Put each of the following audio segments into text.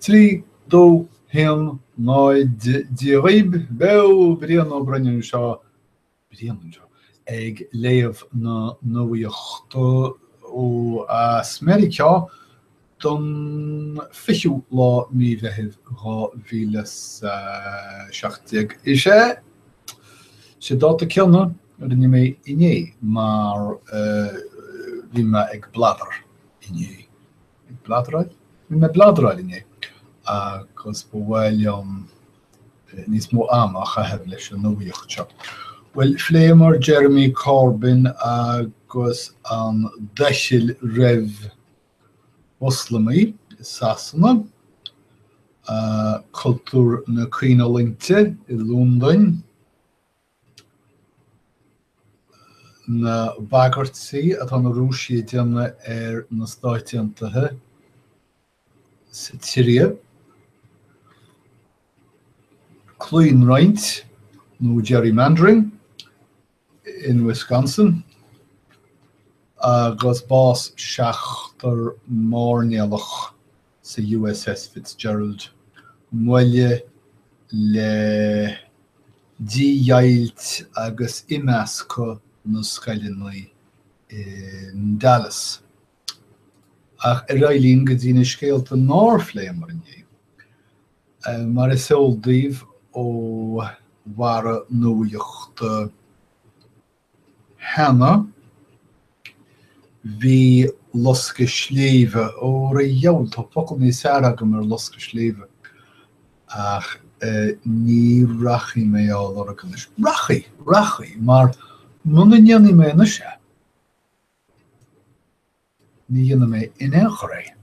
Trí, dó, haon, náid, Dia dhaoib, beo, Brian Ó Broin anseo, Brian anseo ag léamh na nuachta ó as Meiriceá don fichiú lá mí Mheithimh dhá mhíle is a seacht déag. Is ea, an dáta céanna a rinne mé inné mar bhí mé ag bladar inné. Ag bladráil? Bhí mé ag bladráil inné agus ba mhaith liom níos mó ama a chaitheamh leis an nuacht seo. Bhuel, phléamar Jeremy Corbyn agus an doicheall roimh Mhoslamaigh i Sasana, cultúr na caoinfhulaingte i Londain, na bagairtí atá na Rúisigh ag déanamh ar na Stáit Aontaithe sa tSiria. Claonroinnt, nó gerrymandering, in Wisconsin agus bás seachtar máirnéalach sa USS Fitzgerald, moille le dídheighilt agus imeascadh na scoileanna i nDallas. Ach ar aghaidh linn go dtí na scéalta nár phléamar inné. Mar is eol daoibh ó Mharú nuachta cheana. Bhí loscadh sléibhe, ó a dhiabhail, tá focal níos fearr agam ar loscadh sléibhe, ach ní rachaidh mé á lorg anois. Rachaidh, rachaidh, mar muna ndéanfaidh mé anois é, ní dhéanfaidh mé in aon chor é.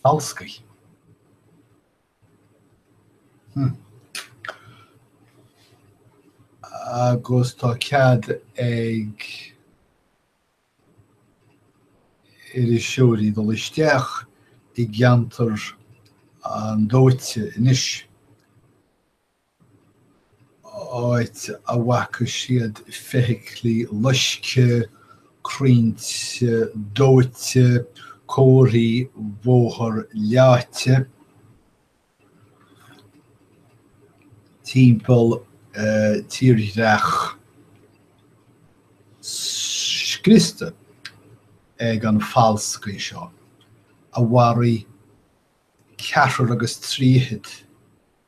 Falscaí. Agus tá cead ag iriseoirí dul isteach i gceantar an dóite anois. áit a bhfaca siad feithiclí loiscthe, crainn dóite, comharthaí bóthair leáite, timpeall tírdhreach scriosta ag an falscaí seo a mharaigh ceathrar agus trí fichid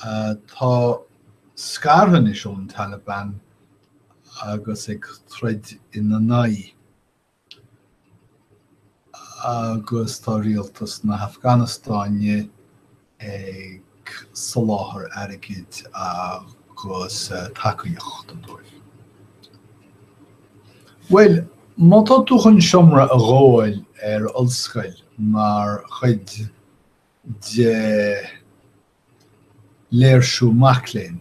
atá scartha anois ón Taliban agus ag troid ina n-aghaidh, agus tá rialtas na hAfganastáine ag soláthar airgid agus tacaíochta dóibh. Bhuel, má tá tú chun seomra a ghabháil ar ollscoil mar chuid de léirsiú mac léinn.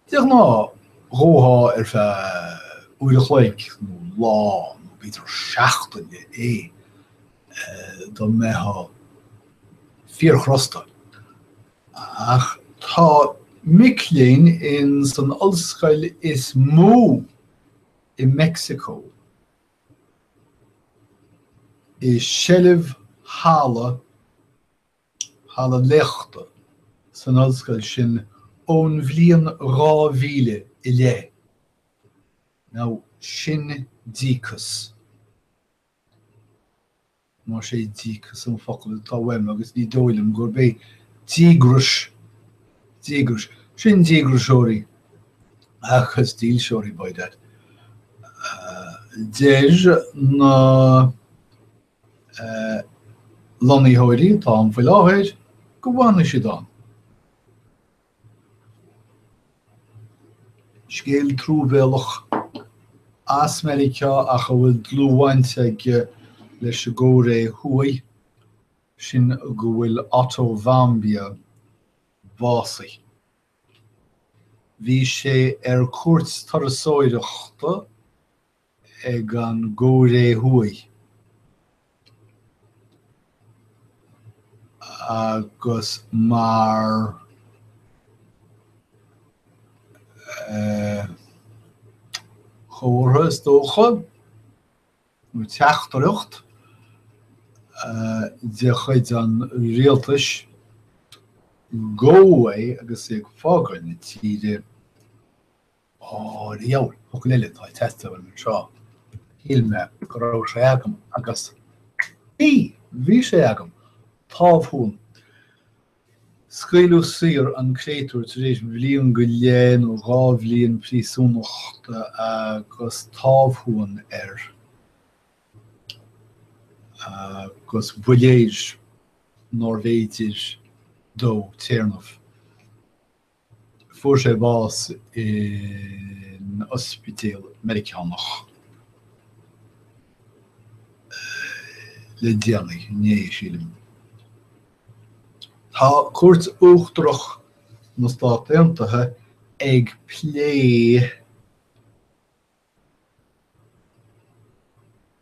De ghnáth, ghabhfá ar feadh uair a chloig nó lá nó b'fhéidir seachtaine é dá mbeitheá fíorchrosta. Ach tá mic léinn in san ollscoil is mó i Meicsiceo i seilbh halla, halla léachta, san ollscoil sin ón bhliain 2000 i leith. Now, sin díocas. Más é 'díocas' an focal atá uaim, agus ní dóigh liom gurb é, díograis, díograis, sin díograiseoirí agus dílseoirí, by dad. Deir na lonnaitheoirí atá ann faoi láthair go bhfanfaidh siad ann. Scéal truamhéalach as Meiriceá ach a bhfuil dlúthbhaint aige leis an gCóiré Thuaidh, sin go bhfuil Otto Warmbier básaithe. Bhí sé ar cuairt turasóireachta, ag an gCóiré Thuaidh agus mar chomhartha is dócha, nó teachtaireacht, de chuid an rialtais gabhadh é agus é ag fágáil na tíre. Diabhal focal eile atá ag teastáil uaim anseo. Shíl mé go raibh sé agam agus bhí! Bhí sé agam! Támhshuan! Scaoileadh saor an créatúr tar éis bhliain go leith nó dhá bhliain príosúnachta agus támhshuan air agus ba léir nárbh fhéidir dó téarnamh. Fuair sé bás in ospidéal Meiriceánach le déanaí, inné, sílim. Tá Cúirt Uachtarach na Stát Aontaithe ag plé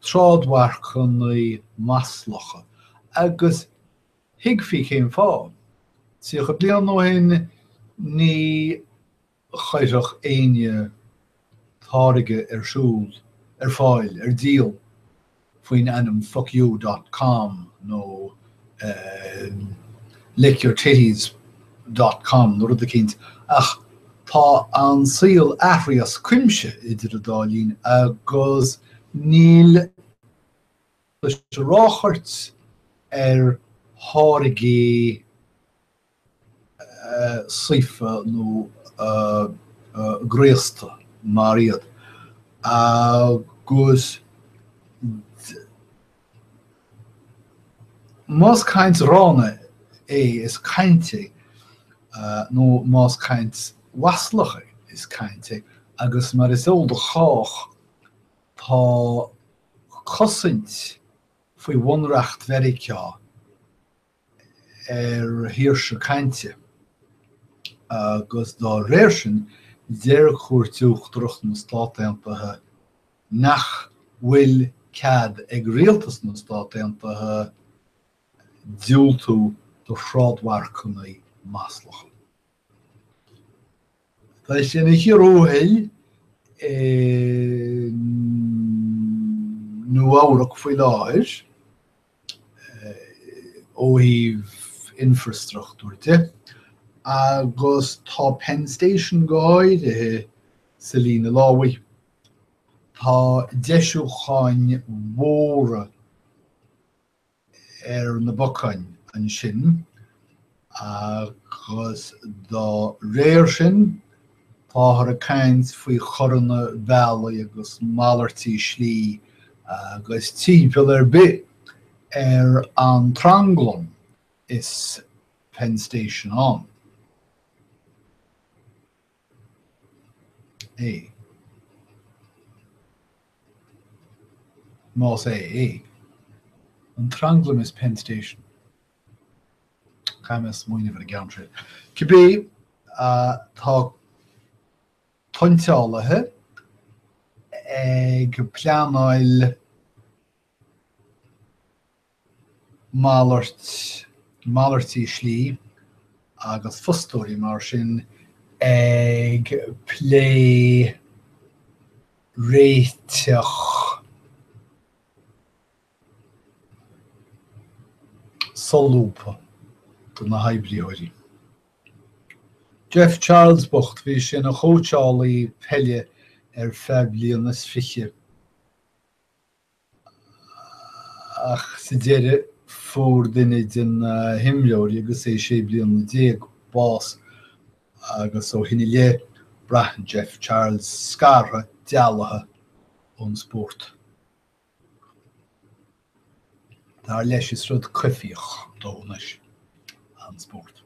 trádmharcanna maslacha, agus thuigfí cén fáth. Tríocha bliain ó shin, ní chaithfeadh éinne táirge ar siúl, ar fáil, ar díol, faoin ainm fuckyou dot com nó lickyourtitties dot com nó rud eicínt, ach tá an saol athraithe as cuimse idir an dá linn agus níl sa ráchairt ar tháirgí saofa nó graosta mar iad agus más caint ghránna é is caint é nó más caint mhaslach é is caint é agus mar is eol do chách tá cosaint faoi Bhunreacht Mheiriceá ar shaoirse cainte, agus dá réir sin, deir Cúirt Uachtarach na Stát Aontaithe nach bhfuil cead ag rialtas na Stát Aontaithe diúltú do thrádmharcanna maslacha. Tá sé ina chíor thuathail i Nua-Eabhrac faoi láthair ó thaobh infreastruchtúir de agus tá Penn Station go háirithe sa líne lámhaigh. Tá deisiúcháin mhóra ar na bacáin ansin agus dá réir sin táthar ag caint faoi choranna bealaigh agus malairtí slí agus timpeall ar bith ar an tranglam is Penn Station ann. é. Más é an tranglam is Penn Station. Caithfidh mé smaoineamh ar an gceann sin. Cibé, tá tointeálaithe ag pleanáil malairt, malairtí slí agus fostóirí mar sin ag plé réiteach solúbtha do na hoibrítheoirí. Jeff Charles bocht, bhí sé ina chóitseálaí peile ar feadh bliain is fiche. Ach sa deireadh, fuair duine de na himreoirí, agus é sé bliana déag, bás, agus ó shin i leith, braitheann Jeff Charles scartha, dealaithe ón spórt. Dar leis, is rud coimhthíoch dó anois an spórt.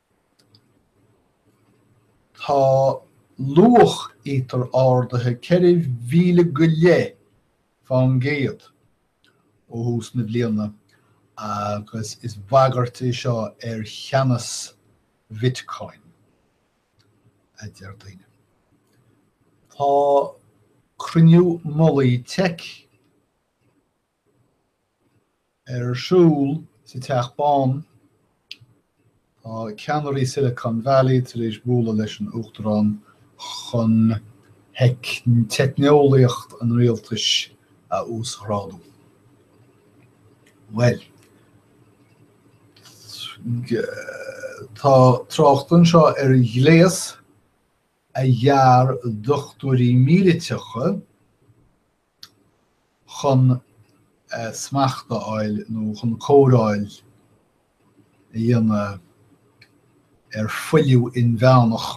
Tá luach Ether ardaithe ceithre mhíle go leith fán gcéad ó thús na bliana agus is bagairt é seo ar cheannas Bhitcoin, a deir daoine. Tá cruinniú mullaigh teic ar siúl sa Teach Bán, tá ceannairí Silicon Valley tar éis bualadh leis an Uachtarán chun teicneolaíocht an rialtais a uasghrádú. Bhuel, tá trácht anseo ar ghléas a dhear dochtúirí míliteacha, chun smacht a fháil nó chun cóireáil a dhéanamh ar fuiliú inmheánach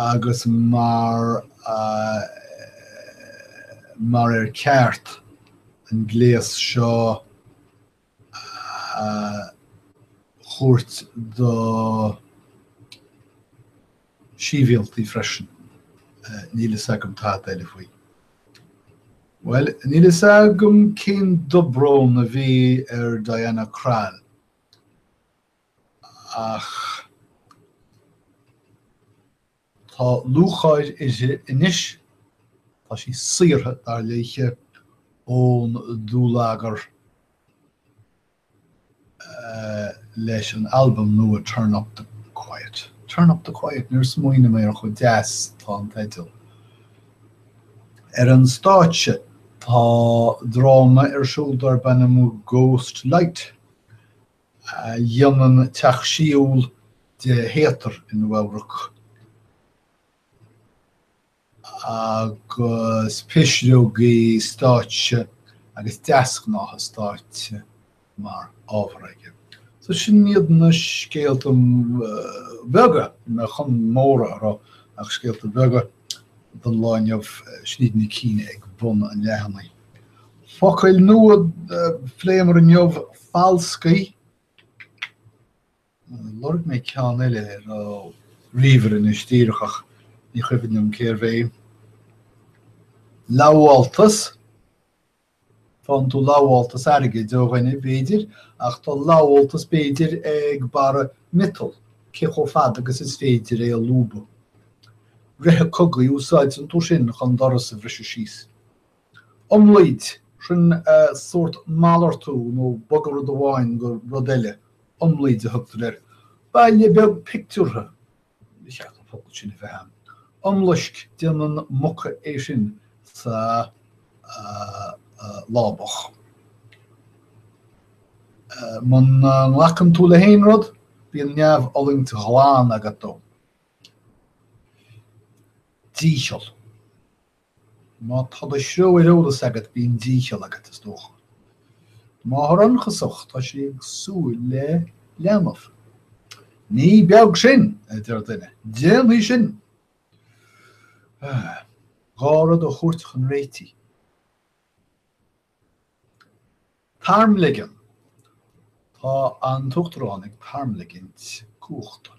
agus mar, mar ar ceart an gléas seo a thabhairt do shibhialtaigh freisin. Níl fhios agam tada eile faoi. Bhuel, níl fhios agam cén dobrón a bhí ar Diana Krall ach. Tá lúcháir uirthi anois. Tá sí saortha, dar léi, ón dúlagar leis an albam nua Turn Up The Quiet. Turn Up The Quiet? Níor smaoinigh mé ar chomh deas is atá an teideal. Ar an stáitse, tá dráma ar siúl darb ainm Ghost Light, a dhéanann teach siúil de théatar i Nua-Eabhrac agus pisreogaí stáitse agus deasghnátha stáitse mar ábhar aige. So sin iad na scéalta beaga, níl mé chun móra a rá ach scéalta beaga don lá inniu, sin iad na cinn ag bun an leathanaigh. Focail nua a phléamar inniu, falscaí. Lorg mé ceann eile ar ríomhaire anois díreach ach ní chuimhin liom cérbh é. Lamháltas. Faigheann tú lamháltas airgid ó dhuine, b'fhéidir, ach tá lamháltas b'fhéidir ag barra miotail, cé chomh fada agus is féidir é a lúbadh. Reithe cogaidh, úsáideann tú sin chun doras a bhriseadh síos. Iomlaoid, sin sórt malartú nó bogadh rud amháin go rud eile, iomlaoid a thugtar air. Baile beag pictiúrtha, ba cheart an focal sin a bheith ann. Iomlaisc, déanann muca é sin sa lábach. Muna nglacann tú le haon rud, bíonn neamhfhulaingt ghlan agat dó. Dícheall. Má tá do threo ar eolas agat bíonn dícheall agat, is dócha. Máthair ionchasach, tá sí ag súil le leanbh. Ní beag sin! a deir duine. Déanfaidh sin! Dhá rud a thabhairt chun réitigh. Tarmligean. Tá an tUachtarán ag tarmligint cumhachta.